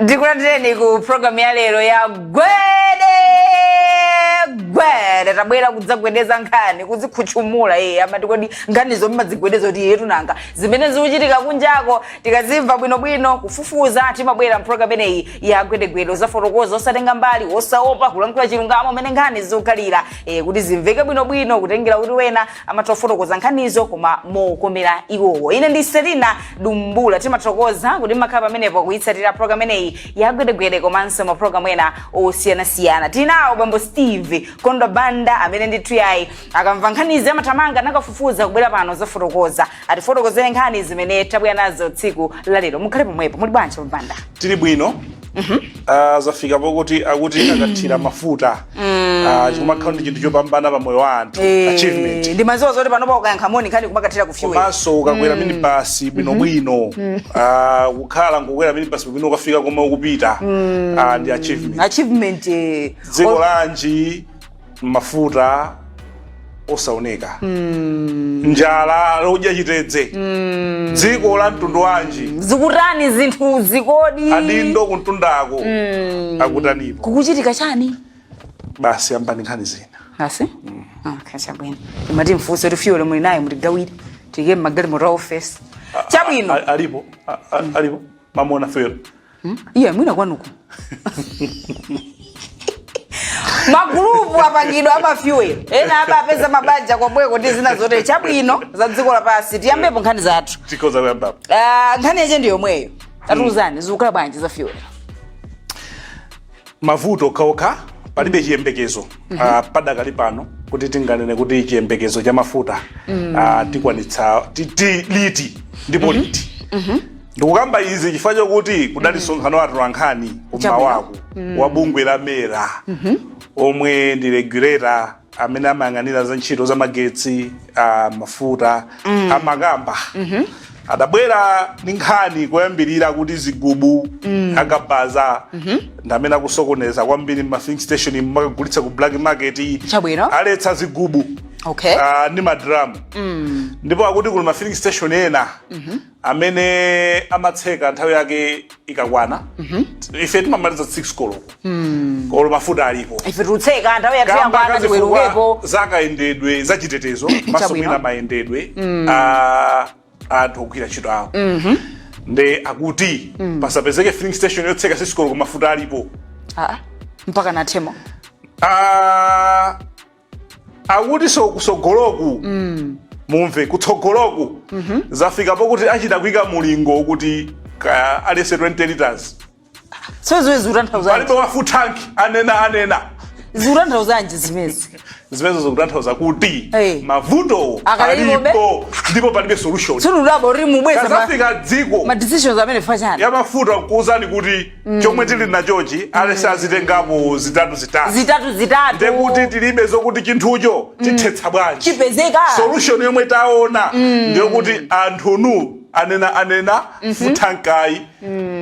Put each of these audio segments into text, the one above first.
ndikulandireni ku programu ya lero ya gwede gwede tabwera kudzagwedeza nkhani kuzikhutchumula amati kodi nkhanizo mmadzigwedeza kuti iyetu nanga zimene zikuchitika kunjako tikazimva bwinobwino kufufuza timabwera mpulogalamu imeneyi ya gwedegwede kuzafotokoza osatenga mbali osaopa kulankhula chilungamo mmene nkhani zikukhalira eh, kuti zimveke bwinobwino kutengera kuti ena amatha kufotokoza nkhanizo koma mokomera iwowo ine ndi selina dumbula timathokoza kuti mmakhala pamenepo kuyitsatira program imeneyi yagwedegwede komanso maprogramu ena osiyanasiyana tinawo bambo steve kondo banda amene ndithu yayi akamva nkhanizi amathamanga nkukafufuza kubwera pano kuzafotokoza atifotokozere nkhani zimene tabwera nazo tsiku lalero mukhale pomwepo muli bwanji banda tili bwino Ah, zafika pokuti akuti akathira mafuta Ah, kukumakhala ndi chinthu chopambana pa moyo wa anthu Eh, achievement ndimaziwa zoti panopa ukayankha moni nkhani kumakathera ku fuel komanso ukakwera minibasi bwinobwino Ah, kukhala nkukwera minibasi bwinobwino ukafika komwe ukupita Ah, ndi achievement achievement eh, dziko lanji mafuta osaoneka njala odya chitedze dziko la mtundu wanji zikutani zinthuzi kodi adindo kumtundako akutanipo kukuchitika chani basi yambani nkhani zina basi okay chabwino timati mfunse kuti fuel muli naye mutigawire tiyike mmagalimoto a ofesi chabwino A- alipo A- a- alipo mwamuona fuel Hmm? Iye mwina kwanuko. magulupu apangidwa amafuel ena apapeza mabanja kobweko ndi zina zotere chabwino za dziko lapansi tiyambepo nkhani zathu tikhoza kuyambapo uh, nkhani yache ndi yomweyo tatiuzani zikukhala bwanji za fuel mavuto okhaokha palibe chiyembekezo mm -hmm. uh, padakali pano kuti tinganene kuti chiyembekezo cha mafuta mm. uh, tikwanitsa ti, ti, liti ndipo mm -hmm. liti mm -hmm. ndikukamba izi chifukwa chokuti kudali msonkhano wa atolankhani kummawaku wa bungwe la mera omwe ndi regulator amene amayang'anira za ntchito za magetsi mafuta amakamba adabwera ndi nkhani koyambirira kuti zigubu akabaza ndi amene akusokoneza kwambiri ma filling station nkumakagulitsa ku black market Chabwino. aletsa zigubu okay Ah, ndi madramu ndipo akuti kuli ma filling station ena amene amatseka nthawi yake ikakwana ife timamaliza 6 koloko olo mafuta alipo ife tikutseka nthawi yathu kamba yakwana ka zifukwa tiwerukepo za kayendedwe za chitetezo komanso Chabwino. mwina mayendedwe a anthu ogwira ntchito awo nde akuti pasapezeke filling station yotseka 6 koloko mafuta alipo Ah, mpaka athemo Ah, akutiso kutsogoloku mm. mumve kutsogoloku mm -hmm. zafika pokuti achita kuika mulingo kuti kaya aliyense 20 liters palibe wa full tank anena anena zikutanthauzanji zimezi zimezo zikutanthauza kuti hey. mavuto alipo ndipo palibe solution nkhani ya mafuta kukuuzani kuti chomwe tili nachochi aliyense azitengapo zitatu zitatu zitatu zitatu ndekuti tilibe zokuti chinthucho tithetsa bwanji chipezeka solution yomwe taona ndiyokuti anthunu anena anena full tank ayi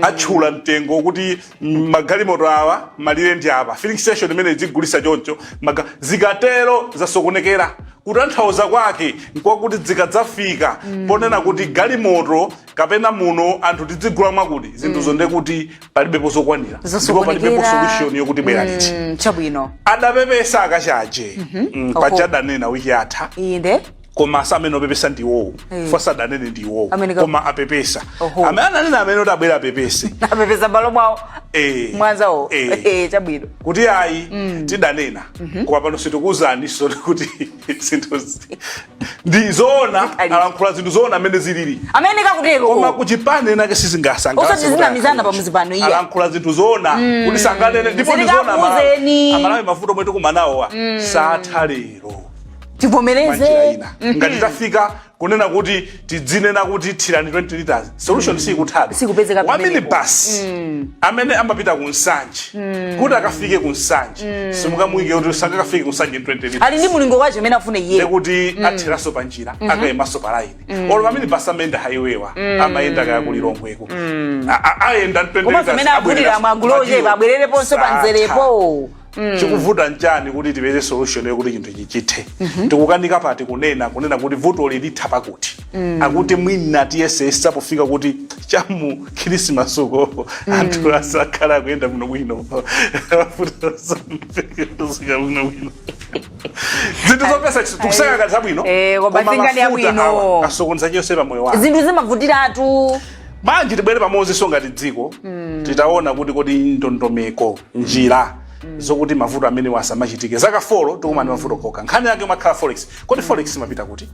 atchula mtengo kuti mm, magalimoto awa malire ndi apa filling station imene zigulisa choncho maga- zikatero zasokonekera kutanthauza kwake nkwakuti zikadzafika ponena kuti galimoto kapena muno anthu tidzigula mwakuti zinthuzo nde kuti palibepo zokwanira ndipo Zosokonekera. palibepo solution yokuti abwera liti Mm, chabwino adapepesa akachaje mm, Oho. paja adanena wiki yatha inde koma osati amene opepesa ndi iwowo Eh. fasa adanene ndi iwowo Amene ka- koma apepesa Oho. amene ananena amene kuti abwera apepese apepesa mbalo mwawo Eh. mwanzawo Eh. Eh, chabwino kuti ayi tidanena koma pano sitikuwuzani soni kuti zinthu zi- ndi zoona Alipo. alankhula zinthu zoona amene zilili ameneka koma kutero kuchipani kwinakwake sizingasangalatse Osati kuti zinamizana akhale. pamudzi pano, iya. alankhula zinthu zoona kuti sanganene ndipo ndi zoona Amalawi. Zilikakuuzeni. amalawi mavuto omwe tikumana nawowa satha lero mwanjira tivomereze ina ngati tafika kunena kuti tidzinena kuti thirani 20 liters solution sikutheka Sikupezeka wa pamenepo. minibus amene amapita ku nsanje kuti akafike ku nsanje simukamuyike kuti sangakafike ku nsanje in 20 liters ali ndi mulingo wake umene afune iye ndekuti atheraso pa njira akayimenso pa layini olo pamene basi amayenda highway wa amayenda kaya ku lilongweko A- a- ayenda komanso amene agulira m'magulo abwerereponso pa mzerepo chikuvuta nchani kuti tipeze solution yokuti chinthu ichi chithe tikukanika pati kunena kunena kuti vutoli litha pakuti akuti mwina tiyesesa pofika kuti chamu khirisimasuko anthu asakhala akuyenda bwino bwino Mavuto asakhala bwino bwino. zinthu zopeza tikusaka kanthu abwino Eh, koma koma nkhani ya mafuta abwino. awa asokoneza chonse pa moyo wa munthu zinthu zimavutiratu manje tibwere pamodzinso ngati dziko tione kuti kodi ndondomeko njira zokuti mavuto amenewa asamachitike zaka folo tikumana ndi mavuto okha nkhani yake imakhala forex kodi forex imapita kuti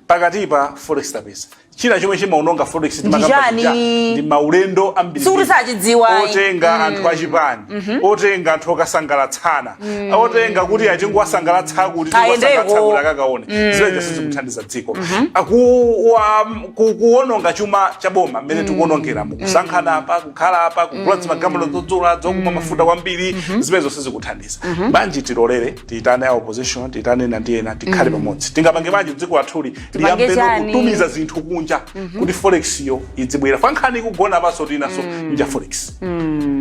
pakatipa forex tapeza china chomwe chimaononga forex ndi makamba chani? chija, ndi maulendo ambiri Sikuti sachidziwa, ayi. otenga anthu achipani otenga anthu okasangalatsana otenga kuti tingowasangalatsa kuti Kayendeko. tingowasangalatsa kuti akakaone zakunja sizikuthandiza dziko Aku- wa- ku- kuononga chuma cha boma mmene tikuonongera mu kusankhana pa kukhala apa kugula mm. magalimoto dzodzula dzokumwa mm. mafuta kwambiri mm-hmm. zimenezo sizikuthandiza mm-hmm. bwanji tilolere tiyitane a opposition tiyitane ena ndi ena tikhale mm. pamodzi tingapange bwanji dziko lathuli liyambenso kutumiza zinthu kunja mm-hmm. kuti forex yo idzibwera chifukwa nkhani ikugona pa zoti nanga forex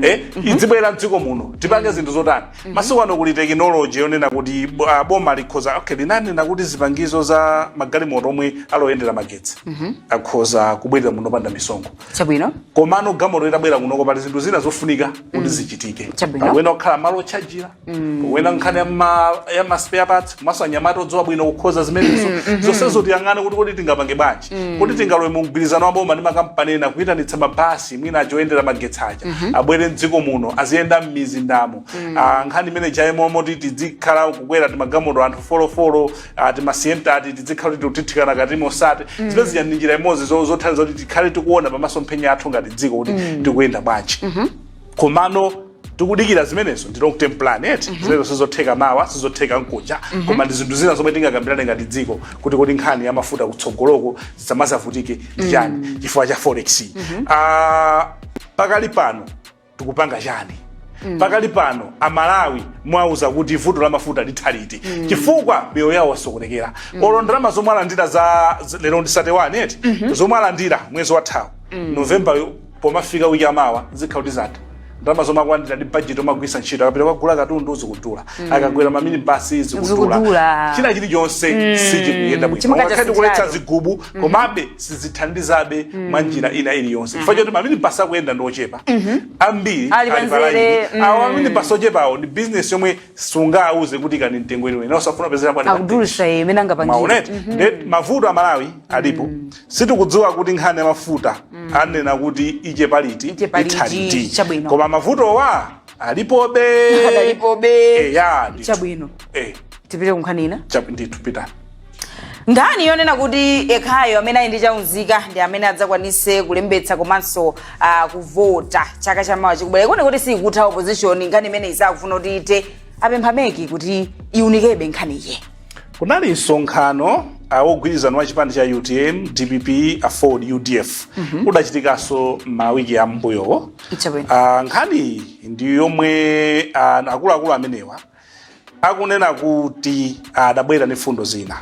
eh idzibwera mdziko muno tipange zinthu zotani masiku ano kuli tekinoloji yonena kuti ah, boma likhoza okay linanena kuti zipangizo za magalimoto omwe ali oyendera magetsi akhoza kubwerera muno opanda misonkho chabwino komano galimoto itabwera kunoko pali zinthu zina zofunika kuti mm. zichitike pena kukhala malo otchajira mm. pena nkhani ya maspare parts komanso anyamata odziwa bwino kukonza zimenezo mm, mm-hmm. zonsezo tiyang'ane kuti kodi tingapange bwanji mm. kodi tingalowe mu mgwirizano wa boma ndi makampani ena kuyitanitsa mabasi mwina aja oyendera magetsi aja mm-hmm. abwere mdziko muno aziyenda m'mizindamo ah, nkhani imene ija yomati tidzikhala kukwera timagalimoto anthu folofolo timasiyenta tidzikhala kuti tikuthithikana mkatimo osati zimene zija ndi njira imodzi zo- zothandiza kuti tikhale tikuona pamasomphenya athu ngati dziko kuti tikuyenda bwanji komano tikudikira zimenezo ndi long term plan eti zimenezo sizotheka mawa sizotheka mkuja koma ndi zinthu zina zomwe tingakambirane ngati dziko kuti kodi nkhani ya mafuta kutsogoloko zisamazavutike ndi chiyani chifukwa cha forex Ah, pakali pano tikupanga chani pakali pano amalawi mwauza kuti vuto la mafuta litha liti chifukwa miyoyo yawo yasokonekera olo ndalama zomwe alandira za za- lero ndi 31 eti zomwe alandira mwezi wathawu novemba yo pomafika wiki ya mawa zikhala kuti zatha ndalama zomwe akulandira ndi bajeti omagwiritsa ntchito akapita kukagula katundu zikudula akakwera maminibasi zikudula Zikudula. china chilichonse sichikuyenda bwino Chimukachasitali. Ngakhale tikuletsa zigubu Mhm. komabe sizithandizabe mhm. mwa njira ina iliyonse chifukwa mhm. choti maminibasi akuyenda ndi ochepa ambiri ali palaini awo maminibasi ochepawo ndi bizinesi yomwe sungawauze kuti ikani mtengo iliyonse osafuna kupezera palimaonete nde mavuto a malawi alipo sitikudziwa kuti nkhani ya mafuta anena kuti ichepa liti itha liti koma mavutowa alipobe alipobe eya chabwino eh tipite kunkhani ina ndithu pitani nkhani yonena kuti yekhayo amene ali ndi chaunzika ndi amene adzakwanise kulembetsa komanso uh, kuvota chaka chamawa chikubwera ikuoneka kuti siikutha opposition nkhani imeneyi sakufuna kuti ithe apempha meki kuti iunikebe nkhaniyi kunali msonkhano ah, wogwirizana wa chipani cha utm dpp aford udf udachitikanso mawiki ambuyowo Chabwino. Ah, nkhaniyi ndi yomwe ah, akuluakulu amenewa akunena kuti adabwera ndi mfundo zina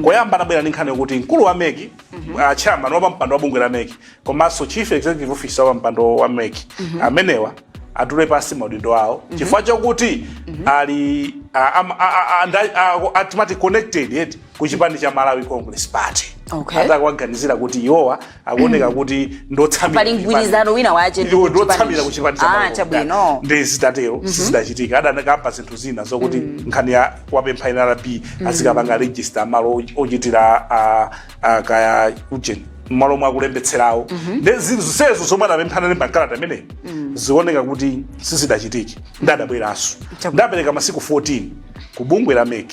koyamba anabwera ndi nkhani yokuti mkulu wa meki ah, chairman wa pampando wa bungwe la meki komanso chief executive officer wa pampando wa meki amenewa atule pansi maudindo awo chifukwa chokuti ali ah, am- ah, ah, ah, nda- ah, atimati connected eti ku chipani cha malawi congress party Okay. atakuwaganizira kuti iwowa akuoneka kuti ndotsamira Pali ku chipani. mgwirizano wina wache ndi Iwo ku ndotsamira chipani. ku chipani cha Ah, Malawi chabwino. Kotani. nde zitatero sizidachitika adanakamba zinthu zina zokuti nkhani ya kuwapempha nrb azikapanga register malo o- ochitira ah, ah, kaya ujeni mmalo omwe akulembetserawo nde zinthu zonsezo zomwe adapempha analemba mkalata imeneyo zioneka kuti sizidachitike nde adabweranso Chabwino. nde apereka masiku 14 ku bungwe la MEC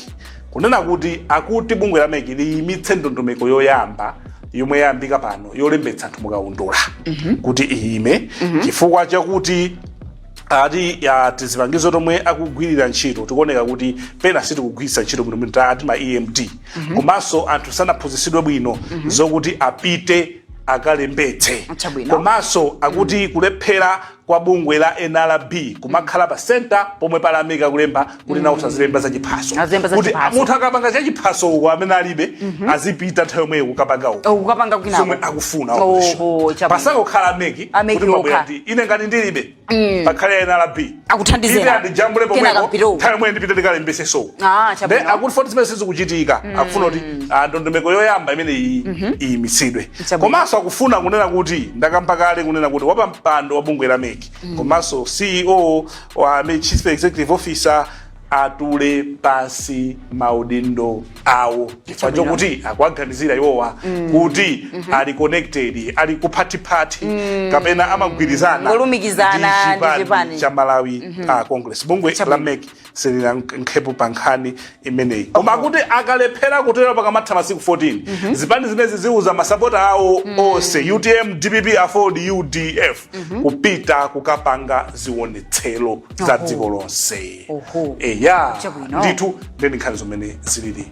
Kunena kuti akuti bungwe la mec liyimitse ndondomeko yoyamba yomwe yayambika pano yolembetsa anthu mukaundula kuti iyime chifukwa chakuti ati ya tizipangizo tomwe akugwirira ntchito tikuoneka kuti pena sitikugwiritsa ntchito bwino bwino ati ma emd komanso anthu sanaphunzitsidwe bwino zokuti apite akalembetse Chabwino. komanso akuti kulephera kwa bungwe la nrb kumakhala pa center pomwe pali a MEC akulemba kuti nawonso azilemba za chiphaso Azilemba za kuti chiphaso. munthu akapanga cha chiphaso uko amene alibe azipita nthawi yomweyo kukapanga uko ukapanga kwina zomwe akufuna Oho, opposition. chabwino. pasakukhala MEC A MEC kuti mwabwera okha. ndi ine ngati ndilibe pakhale nrb Akuthandizeni. ine andijambule Kenaka pomwepo mpite uko. nthawi yomweyo ndipite ndikalembese so Ah, nde chabwino. akuti poti zimene sizikuchitika akufuna kuti ah, ndondomeko yoyamba imene iyi iyimitsidwe Chabwino. komanso akufuna kunena kuti ndakamba kale kunena kuti wapampando wa bungwe la mec komanso ceo wa MEC, chief executive officer atule pansi maudindo awo chifukwa Chabwino. chokuti akuwaganizira iwowa kuti ali connected ali phathiphathi kapena amagwirizana Ngolumikizana ndi ndi chipani chipani. cha malawi ah, congress bungwe la Chabwino. mec silinayankhepo pa nkhani imeneyi koma akuti akalephera kutero pakamatha masiku 14 zipani zimenezi ziuza masapota awo onse utm dpp aford udf kupita kukapanga zionetsero za Oho. dziko lonse Oho. eya Chabwino. ndithu nde ndi nkhani mmene zilili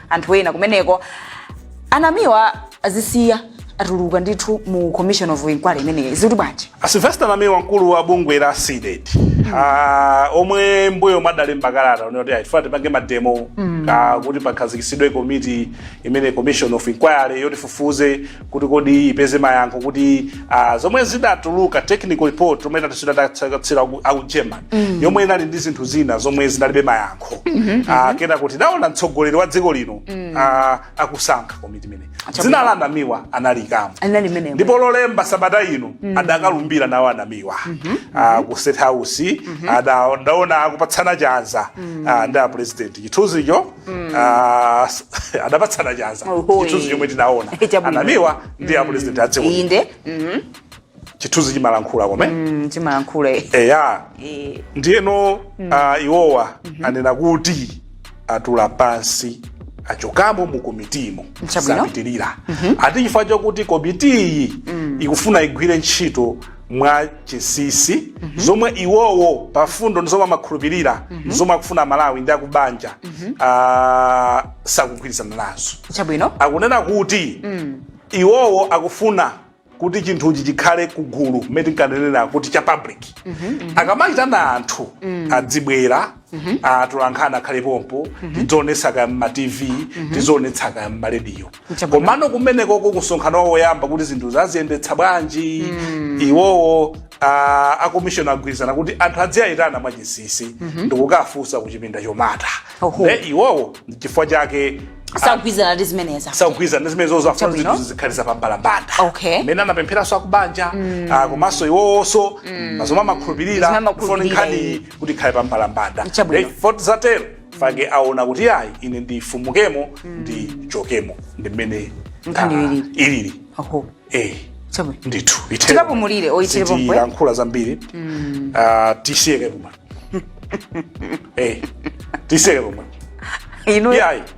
anthu ena kumeneko anamiwa azisiya atuluka ndithu mu commission of inquiry imeneyi zikuti bwanji A Sylvester Namiwa mkulu wa bungwe la CDED ah, omwe mbuyomu adalemba kalata onena kuti ayi tifuna tipange mademo ah, kuti pakhazikitsidwe komiti imene commission of inquiry yoti ifufuze kuti kodi ipeze mayankho kuti ah, zomwe zidatuluka technical report yomwe adatitulutsira aku German yomwe inali ndi zinthu zina zomwe zinalibe mayankho Ah, kenaka tidaona mtsogoleri wa dziko lino ah, akusankha komiti imene dzina la anamiwa analikamo anali mmenemo ndipo lolemba sabata ino adakalumbira nawo anamiwa Ah, ku state house ada- ndaona akupatsana chanza ah, ndi apurezidenti chithunzicho ah, s- adapatsana chanza Oho, chithunzi eh. chomwe tinaona Eh, chabwino. a Namiwa ndi a president adziko inde mhm, chithunzi chimalankhula kome mm, chimalankhula eh. eya Eh, ndiyeno ah, iwowa anena kuti atula pansi achokamo mu komitimu Chabwino. sapitirira ati chifukwa chakuti komitiyi ikufuna igwire ntchito mwa chinsinsi zomwe iwowo pa mfundo ndi zomwe amakhulupirira zomwe akufuna aMalawi ndi akubanja ah, sakugwirizana nazo chabwino akunena kuti iwowo akufuna kuti chinthuchi chikhale kugulu mmene tinkanenera kuti cha public akamayitana anthu adzibwera atolankhani akhale pompo tidzionetsa kaya mma tv tizionetsa kaya mma rediyo Chabwino. komano kumenekoko kusonkhano wawo woyamba kuti zinthu aziyendetsa bwanji iwowo ah, akomishoni agwirizana kuti anthu adziwayitana mwachinsinsi ndikukafunsa kuchipinda chomata Oho. ne iwowo chifukwa chake sakugwirizana ndi zimenezo sakugwirizana ndi zimenezo afuna Chabwino. zinthu zikhale zapambalambanda Okay. mmene anapempheranso akubanja ah, komanso iwowonso mwa zomwe amakhulupirira Zomwe amakhulupirira, kufuna nkhani kuti ikhale pa mbalambanda Chabwino. Ndiye poti zatero fake aona kuti ayi ine ndifumukemo ndichokemo ndi mmene Nkhani ah, ilili. ilili Aho. eh Chabwino. ndithu Tikapumulire, oyitire pomwe. tilankhula zambiri Ah, tisiyeke pomwe eh tisiyeke pomwe Inu iyayi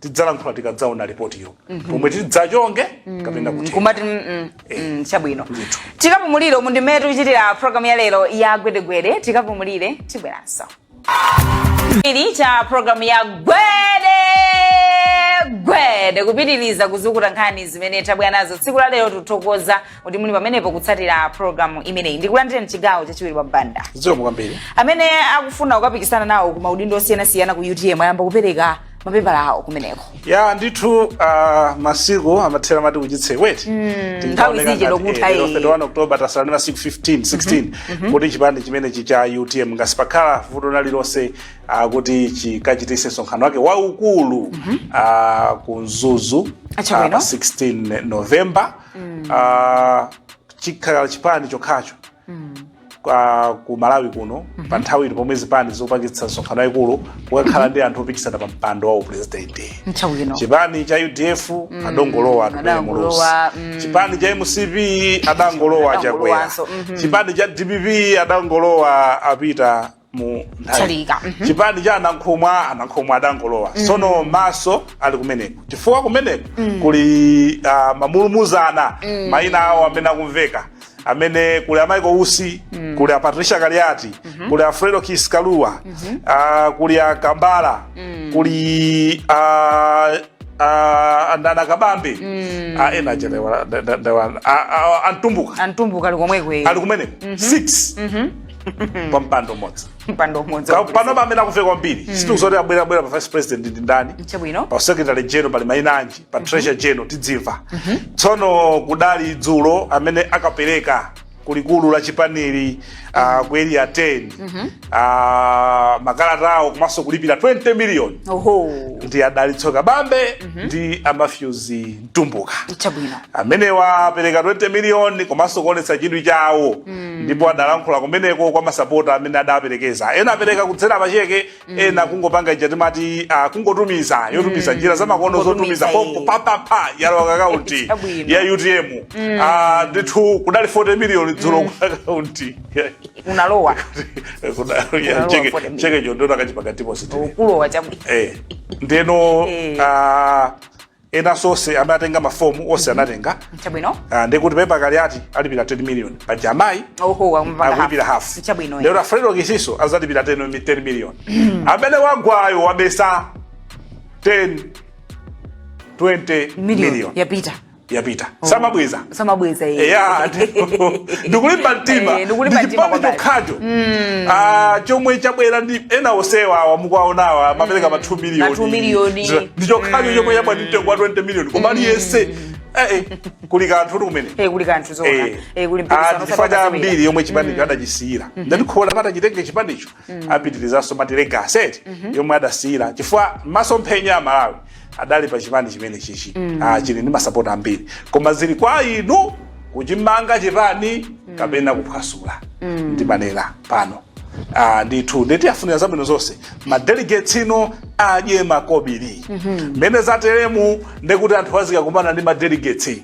tidzalankhula tikadzaona lipotilo pomwe tidzachonge kapena kuti nkumati mm, mm, mm, chabwino Ndithu. tikapumulire umu ndi mmene tikuchitira programu ya lero ya gwedegwede tikapumulire tibweranso ili cha programu ya gwede gwede kupitiriza kuzukuta nkhani zimene tabwera nazo tsiku la lero tithokoza kuti muli pamenepo kutsatira programu imeneyi ndikulandire mchigawo chachiwiri a Banda zikomo kwambiri amene akufuna kukapikisana nawo ku maudindo osiyanasiyana ku utm ayamba kupereka mapepala awo kumeneko ya ndithu uh, masiku amathera amati kuchitse weti mm, nthawi zije lokutha iyi 31 october tasala ndi masiku 15 16 kuti chipani chimenechi cha utm ngati sipakhala vuto lina lililonse uh, kuti chikachitise msonkhano wake waukulu uh, ku mzuzu uh, pa Chabwino. 16 november uh, chikhala chipani chokhacho kwa- ku malawi kuno pa nthawi ino pomwe zipani zikupangitsa misonkhano yayikulu kukakhala ndi anthu opikisana pa mpando wa uprezidenti nthawi ino chipani cha udf adangolowa Atupele Muluzi adangolowa, mm. chipani cha mcp adangolowa a Chakwera Adangolowanso, mhm. chipani cha dpp adangolowa a Peter Mutharika mhm. chipani cha a Nankhumwa a Nankhumwa adangolowa mm. sono maso ali kumeneko chifukwa kumeneko mm. kuli uh, ah, mamulumuzana mm. mayina awo amene akumveka amene kuli a Michael Usi mm. kuli a Patricia Kaliati mm -hmm. kuli a Fredokiss Kalua mm -hmm. uh, ah, kuli a Kambala mm. kuli uh, ah, uh, a Dali Kabambe mm. uh, ena chelewa a Mtumbuka a Mtumbuka ali komweko ali kumeneko mm -hmm. six mm -hmm. kwa mpando umodzi mpando umodzi Ka- pano pamene akumveka kwambiri sitikudziwa zoti abwera abwera pa vice president ndi ndani chabwino pa secretary general pali maina anji pa treasurer general tidzimva tsono kudali dzulo amene akapereka kulikulu la chipanili uh, ku area 10 uh, makalata awo komanso kulipira 20 million oho ndi a Dalitso Kabambe ndi a Matthews Mtumbuka chabwino amenewa apereka 20 miliyoni komanso kuonetsa chidwi chawo ndipo adalankhula kumeneko kwa masapota amene adaperekeza ena apereka kudzera pacheke ena kungopanga ija timati ah, kungotumiza yotumiza njira zamakono zotumiza Kungotumiza, konko eh. pompo yalowa ku akaunti Chabwino. ya UTM Ah, ndithu kudali 40 miliyoni dzulo kwa akaunti inalowa Inalowa 40 miliyoni. cheke chondona kachipakatipo sitini ukulowa chabwino eh ndeno Eh. ah, enanso onse amene atenga mafomu onse anatenga chabwino Ah, ndi kuti PK Kaliati alipira 10 million paja amayi oho wamva akulipira hafu chabwino lero a Fredokiss-nso adzalipira 10 mi- 10 million amene wagwayo wabetsa 10 20 million million yapita yapita samabweza samabweza yeye yeah, ndikulimba mtima eh, ndichipani chokhacho mm. ah, chomwe chabwera ndi ena onsewa awa mukuwaonawa amapereka mm. ma 2 miliyoni ndi chokhacho mm. chomwe chabwera ndi mtengo wa 20 miliyoni koma aliyense mm. Eh, eh, kuli kanthu kuti kumene eh, kuli kanthu zona eh, eh kuli mpikisano ah, chifukwa cha mbiri yomwe chipanicho mm. adachisiyira mm -hmm. ndati kholo amati chitenge chipanicho mm. apitirizanso mwati legacy mm -hmm. yomwe adasiyira chifukwa masomphenya a malawi adali pa chipani chimene chichi mm. ah, chili ndi masapota ambiri koma zili kwa inu kuchimanga chipani mm. kapena kuphwasula mm. ndimanena pano ah, ndithu ndi tiwafunira zabwino zonse madelegates ino adye makobiri mmene mm -hmm. zateremu ndekuti anthu azikakumana ndi madelegates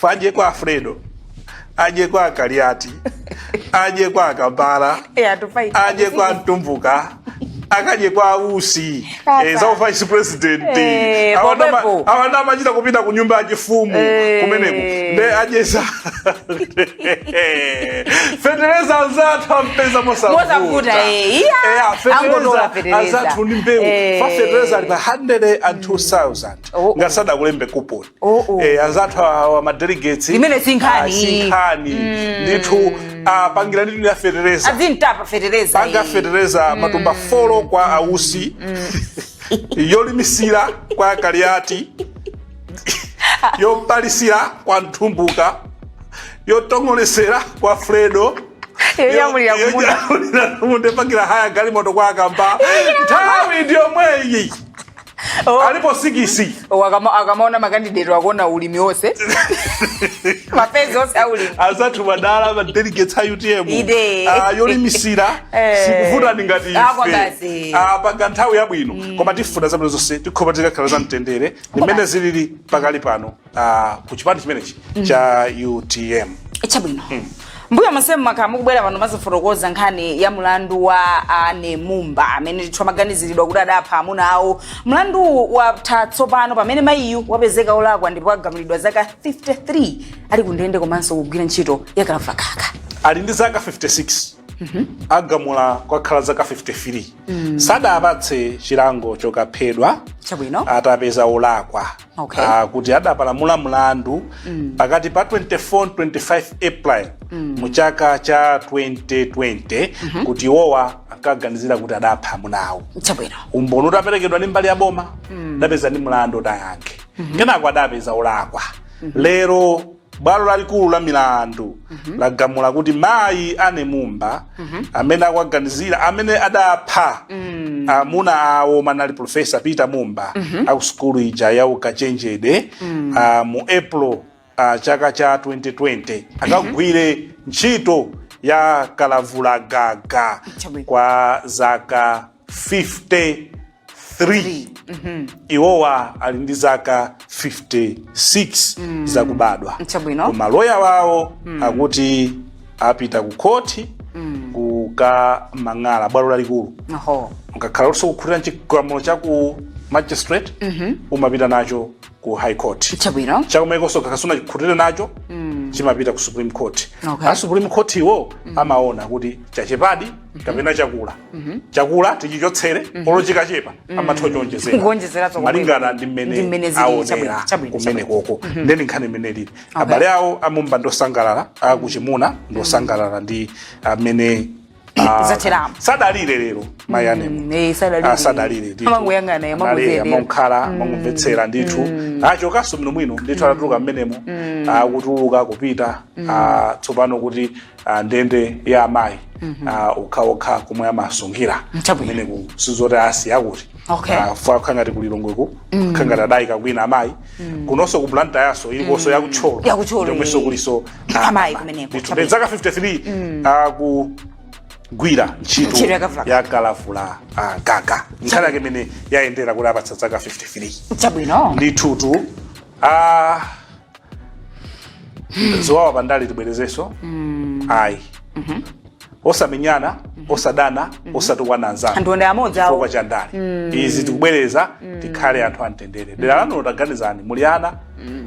Adye kwa a Fredo, adye kwa Kaliati, adye kwa a Kambala, Yeah, to fight. adye kwa Mtumbuka, akadye kwa Usi, Tata. eh, za vice president. Eh, Awa ndama- pomwepo. awa amachita kupita ku nyumba ya chifumu Eh. kumeneko nde adyesa fetereza anzathu ampeza Mosavuta, eh, iya. Angotola fetereza. anzathu ndi mbewu Eh. pa fetereza ali pa 102000 Oh, oh. ngati sadakulembe kuponi Oh, oh. Eh, anzathu awa ma delegates Imene si nkhani. ah, si nkhani ndithu apangira ndithu ya fetereza azintapa fetereza panga fetereza matumba folo kwa Usi yolimisira kwa kaliati yopalisira kwa Mtumbuka yotong'oletsera kwa fredo Yonyamulira yo- kumunda. yonyamulira kumunda, pangira haya galimoto kwa akamba nthawi ndi yomweyi Oh. alipo sikisi Oh, akama- akamaona makandidate akuona ulimi wonse maphezi onse aulimi anzathu madala ma delegates a utm Ide. Ah, yolimisira Eh. sikuvutani ngati Ah, kwa basi. ife Ah, panga nthawi yabwino koma tifuna zabwino zonse tikhopa tikakhala za mtendere limene zilili pakadali pano ah, ku chipani chimenechi cha utm chabwino m'mbuyo monsemu mumakhala mukubwera pano mumazifotokoza nkhani ya mlandu wa Anne Mumba amene ndithu amaganiziridwa kuti adapha amuna awo mlanduwu watha tsopano pamene mayiyu wapezeka olakwa ndipo agamulidwa zaka 53 ali kundende komanso kugwira ntchito ya kalavulagaga ali ndi zaka 56 agamula kwakhala zaka 53 sadampatse chilango chokaphedwa chabwino atampeza olakwa Okay. Ah, kuti adapalamula mlandu pakati pa 24 ndi 25 april mu chaka cha 2020 kuti iwowa ankaganizira kuti adapha amunawo Chabwino. umboni utaperekedwa ndi mbali ya boma adawapeza ndi mlandu woti ayankhe kenako adawapeza olakwa lero Bwalo lalikulu la milandu lagamula kuti mayi Anne Mumba amene akuwaganizira amene adapha amuna awo omwe anali Professor Peter Mumba akusukulu ija ya ukachenjede ah, mu April ah, chaka cha 2020 akagwire ntchito ya kalavulagaga Chabwino. kwa zaka 50 3 iwowa ali ndi zaka 56 zakubadwa Chabwino. koma loya wawo akuti apita ku khoti kukamang'ala bwalo lalikulu Oho. ukakhala kuti sukukhutira chigamulo cha ku magistrate umapita nacho ku high court Chabwino. cha ku high konso ukakhala sunakhutire nacho chimapita ku supreme court Okay. a supreme court iwo amaona kuti chachepadi kapena chakula chakula tichichotsere olo chikachepa amatha kuchonjezera Kuonjezera zomwe. malingana ndi Ndi mmene mmene zili, aonera chabwino, chabwino, kumenekoko ndiye ndi nkhani mmene ilili abale awo a Mumba ndi osangalala akuchimuna ndi osangalala ndi amene ah, Zateramo. sadalile lero mayi Anne mo Mm, eh, sadalile. Ah, sadalile ndithu. Amangoyang'ana, Anali, amangoziyendera. anangokhala amangomvetsera ndithu achokanso bwinobwino ndithu atatuluka mmenemo akutuluka kupita ah, tsopano kuti ah, ndende ya amayi ah, okhaokha komwe amasungira Nchabwino. kumeneku sizoti asiya kuti Okay. Ah, fwa ngati ku Lilongweko ngati adayika kwina amayi kunonso ku blantyre yawonso ilikonso ya ku Thyolo Ya ku Thyolo, ndiyomwenso eh. kulinso Amayi kumeneko, Ndithu, chabwino. zaka 53 ah, kugwira ntchito Ntchito ya kalavula. ya kalavula ah, gaga nkhani yake imene yayendera kuti apatsa zaka 53 chabwino ndithutu ah, ziwawa pandale tibwerezenso ayi osamenyana osadana osatukwana anzanu anthu ndi amodzi awo chifukwa cha ndale izi tikubwereza tikhale anthu amtendere dera lanulo taganizani muli ana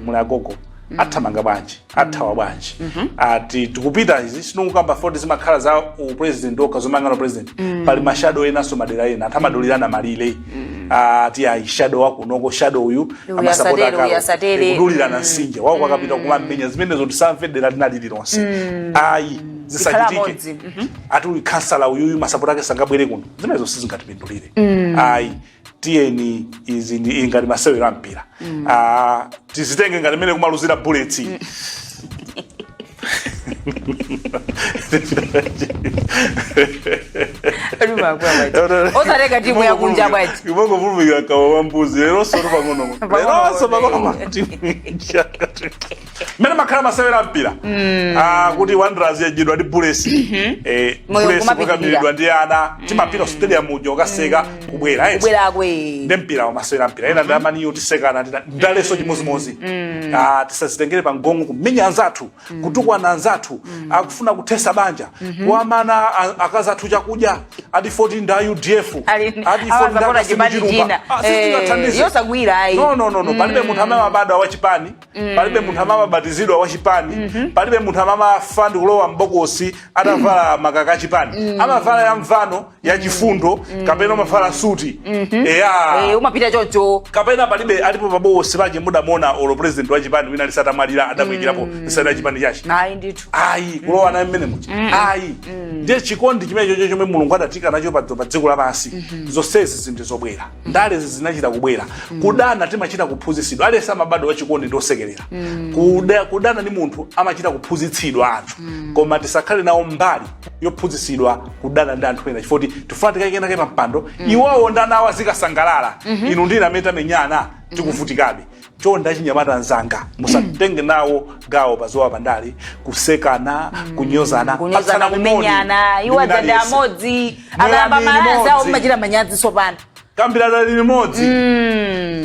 muli agogo athamanga bwanji athawa bwanji ati tikupita izi sindikukamba fwoti zimakhala za upresident okha zomangana upresident pali mashadow enanso madera ena anthu amadulirana malire mm. ah, ati ayi shadow wakunoko shadow uyu Uyu amasapota asatere, akalo. uyu asatere. Kudulirana nsinje wako ukapita kumamenya zimenezo tisamve dera lina lililonse ayi Zikhala amodzi. zisachitike ati uyu khansala uyuyu masapota ake sangabwere kuno zimenezo sizingatipindulire ayi tiyeni izi zili ngati masewero a mpira Ah, tizitenge ngati mmene kumaluzira bullets osatenga timu yakunja bwanji imangopulumikira khawa wambuzi leronso sorry pang'ono leronso pang'ono matimu mmene amakhalira masewera ampira mm. ah, kuti wanderers yadyidwa ndi bullets mm-hmm. eh, bullets kukadyidwa ndi ana timapita mm. stadium uja ukaseka mm. kubwera eti. kubwerako ee. ndi mpira wamasewera mpira ena ndi amani iyo tisekana tina- ndalenso chimozimozi Ah, tisazitengere pa mgong'o kumenya anzathu kutukwana anzathu akufuna kuthetsa banja kumana a- akazi athu chakudya ati 14 nja UDF Ali- ati 14 awa nda zakona chipani Kasimu Chilumba. china. Ah, sisi Eh, tingathandiza. yosagwira ayi. no no no no palibe munthu amene amabadwa wa chipani palibe munthu amene amabatizidwa wa chipani palibe munthu amene amafa ndi kulowa mbokosi atavala makaka a chipani amavala ya mvano ya chifundo kapena amavala suti eya Eh, umapita choncho kapena palibe alipo pabokosi paje mudamona olo president wa chipani wina ali atamwalira adamuyikirapo nsalu ya chipani chake ayi ndithu ayi kulowa naye mmenemuja ayi ndiye chikondi chimene chocho chomwe mulungu adatiika nacho pa pa dziko lapansi zonsezi zinthu zobwera ndalezi zinachita kubwera kudana timachita kuphunzitsidwa aliyense amabadwa wachikondi ndi wosekerera Kuda- kudana ndi munthu amachita kuphunzitsidwa anthu koma tisakhale nawo mbali yophunzitsidwa kudana ndi anthu ena chifukwa kuti tifuna tikaike enaake pa mpando iwowo ndi ana awo azikasangalala inu ndine amene tamenyana tikuvutikabe chonde achinyamata anzanga musatenge nawo gawo paziwawa pandale kusekana kunyozana kunyozana patsana kumoni. kumenyana Ndi iwo anzanga aliyense. amodzi akayamba Mwerani ma alliance awo limodzi. mumachita manyazi sopano kambiranani limodzi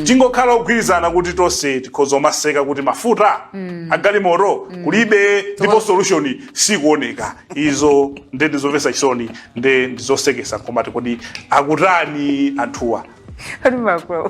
tingokhala ogwirizana kuti tonse tikhoza kumaseka kuti mafuta agalimoto kulibe ndipo solution sikuoneka izo nde ndizomvetsa chisoni nde ndizosekesa komati kodi akutani anthuwa Kodi makula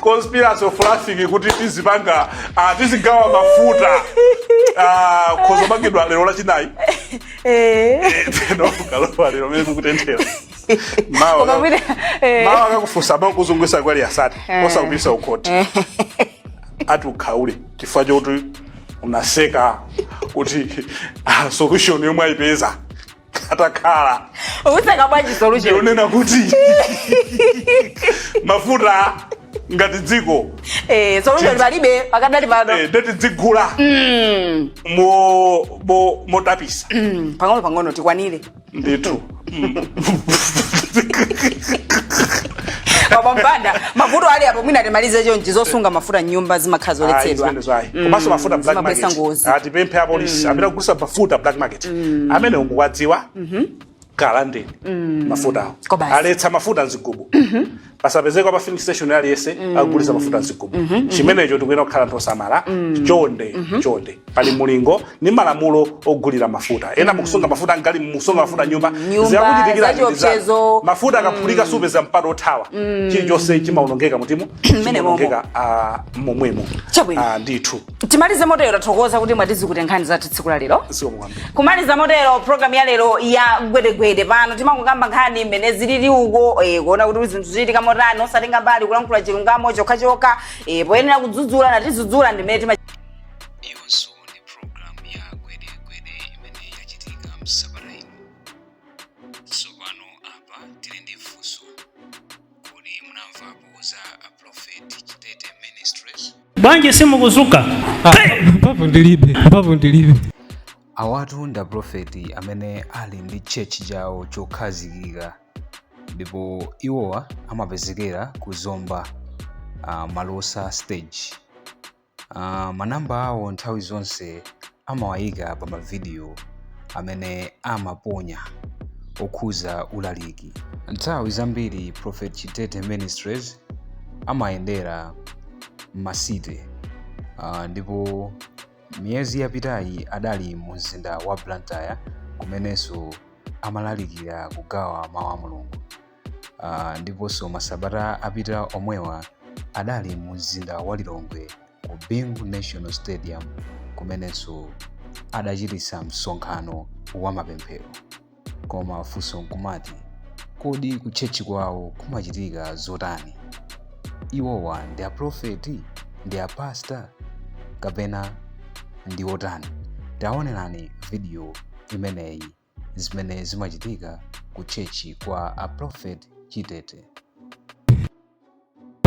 conspiracy of laughing kuti tizipanga ah, tizigawa mafuta ah, ukhoza kumangidwa lero lachinayi Eh, teno kalowa lero mene kukutenthera mawa koma mwina eh, mawa akakufunsa amene kuzungulitsa kwali asati osakupititsa kukhoti ati ukhaule chifukwa chokuti unaseka kuti ah, solution yomwe ayipeza atakhala useka bwanji solution ndiyonena kuti mafuta ngati dziko eh solution palibe pakadali pano eh, nde tidzigula mm. mo- mo- motapitsa mm, pang'ono pang'ono tikwanire ndithu Mm. baba Banda mafuta ali apo mwina timalize chonchi zosunga mafuta mnyumba zimakhala zoletsedwa komanso mafuta black zimabweretsa market ngozi tipemphe apolisi amene akugulitsa mafuta black market mm. amene mukuwadziwa mm -hmm. kalandeni mm. mafutawo aletsa mafuta mzigubu mm -hmm. pasapezeka pa filling station aliyense mm. akugulitsa mafuta mzigubu mm -hmm. chimenecho tikuyenera kukhala anthu osamala mm. chonde mm -hmm. chonde pali mulingo ni malamulo ogulira mafuta ena mm. mukusunga mafuta ngati mukusunga mafuta mnyumba zidzakuchitikira mafuta akaphulika mm. simupeza mpata othawa mm. chilichonse chimaonongeka mutimo chimaonongeka uh, momwemo uh, ndithu timalize motero tathokoza kuti mwatitsikutira nkhani zathu tsiku la lero zikomo kwambiri kumaliza motero programu ya lero ya gwedegwede pano timangokamba nkhani mmene zilili uko eh, kuona kuti zinthu zikuchitika motani osatenga mbali kulankhula chilungamo chokhachokha eh, poyenera kudzudzula natidzudzula ndimene tima iyonso ndi programu ya gwedegwede imene yachitika msabata ino tsopano apa tili ndi funso kodi munamvapo za a prophet chitete ministries bwanji simukuzuka mphamvu ndilibe mphamvu ndilibe awatu ndi aprofeti amene ali ndi tchechi chawo chokhazikika ndipo iwowa amapezekera ku zomba uh, malosa stage uh, manamba awo nthawi zonse amawayika pa mavidiyo amene amaponya okhudza ulaliki. Nthawi zambiri Prophet Chitete Ministries amayendera m'masite uh, ndipo miyezi yapitayi adali mu mzinda wa Blantyre kumenenso amalalikira kugawa mawu a Mulungu. uh, ndiponso masabata apita omwewa adali mu mzinda wa lilongwe ku bingu national stadium kumenenso adachititsa msonkhano wa mapemphero koma funso nkumati kodi kutchetchi kwawo kumachitika zotani iwowa ndi aprofeti ndi apasta kapena ndi otani taonerani vidiyo imeneyi zimene zimachitika ku tchetchi kwa a prophet chitete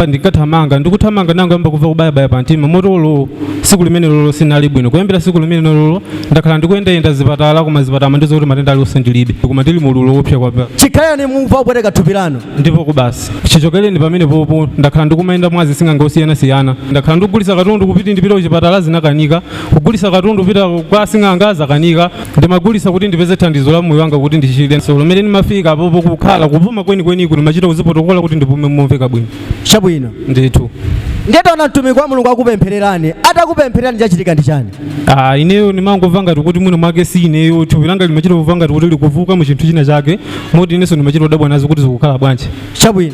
ndikathamanga ndikuthamanga nangoyamba kumva kubayabaya pa mtima moto ilo siku limenelolo sinali bwino kuyambira siku limenelolo ndakhala ndikuyendayenda zipatala koma zipatala ndizakuti matenda aliwonse ndilibe koma ndili mu ululu woopsa kwapa chikhalireni mumva kupweteka thupi lanu ndipo ku basi chichokereni pamenepopo ndakhala ndikumayenda mwa asing'anga osiyanasiyana ndakhala ndikugulisa katundu kuti ndipite kuchipatala zinakanika kugulisa katundu kupita kwa sing'anga zakanika ndimagulisa kuti ndipeze thandizo la moyo wanga kuti ndichireso pamene ndimafika apopo kukhala kupuma kwenikweniko ndimachita kuzipotokola kuti ndipume momveka bwino chabwino ndithu ndiye taona mtumiki wa mulungu akupemphererani atakupemphererani chachitika ndi chani Ah, ineyo ndimangomva ngati kuti mwina mwake si ineyo thupi langa limachita kumva ngati kuti likuvuka mu chinthu china chake moti inenso ndimachita kudabwa nazo kuti zikukhala bwanji chabwino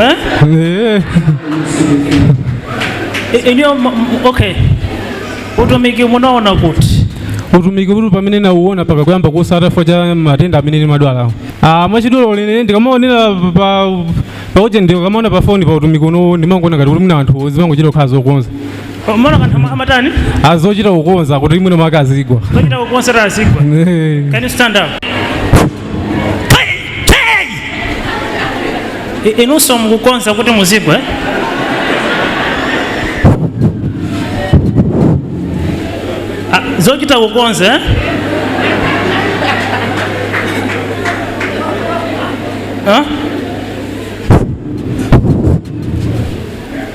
Eh? I- ineyo m- m- okay utumiki munaona kuti utumiki uti pamene munauona mpaka kuyamba kusata chifukwa cha matenda amene nimadwalawo ah mwachidule ine ndikamaonera pa ujeni ndikamaona pa foni pa utumiki uno ndimangoona ngati kuti mwina anthu zimangochita kukhala zokonza Mumaona kanthu ama- amatani? azochita kukonza kuti mwina mwake azigwa Zochita kukonza kuti azigwa. Eh. Can you stand up? Hey, hey! I- Inunso mukukonza kuti muzigwa. eh? Ah, Zochita kukonza. eh? Huh?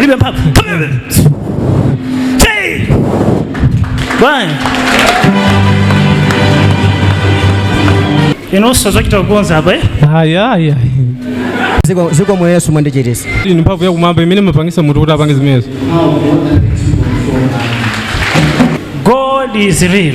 Libe mphamvu. Come here. Say. Bwana. Inunso zochita kukonza apa eh? Aya aya. ziko zikomo yesu mwandichiritsa Iyi ni mphamvu yakumwamba imene imapangisa munthu kuti apange zimenezo. God is real.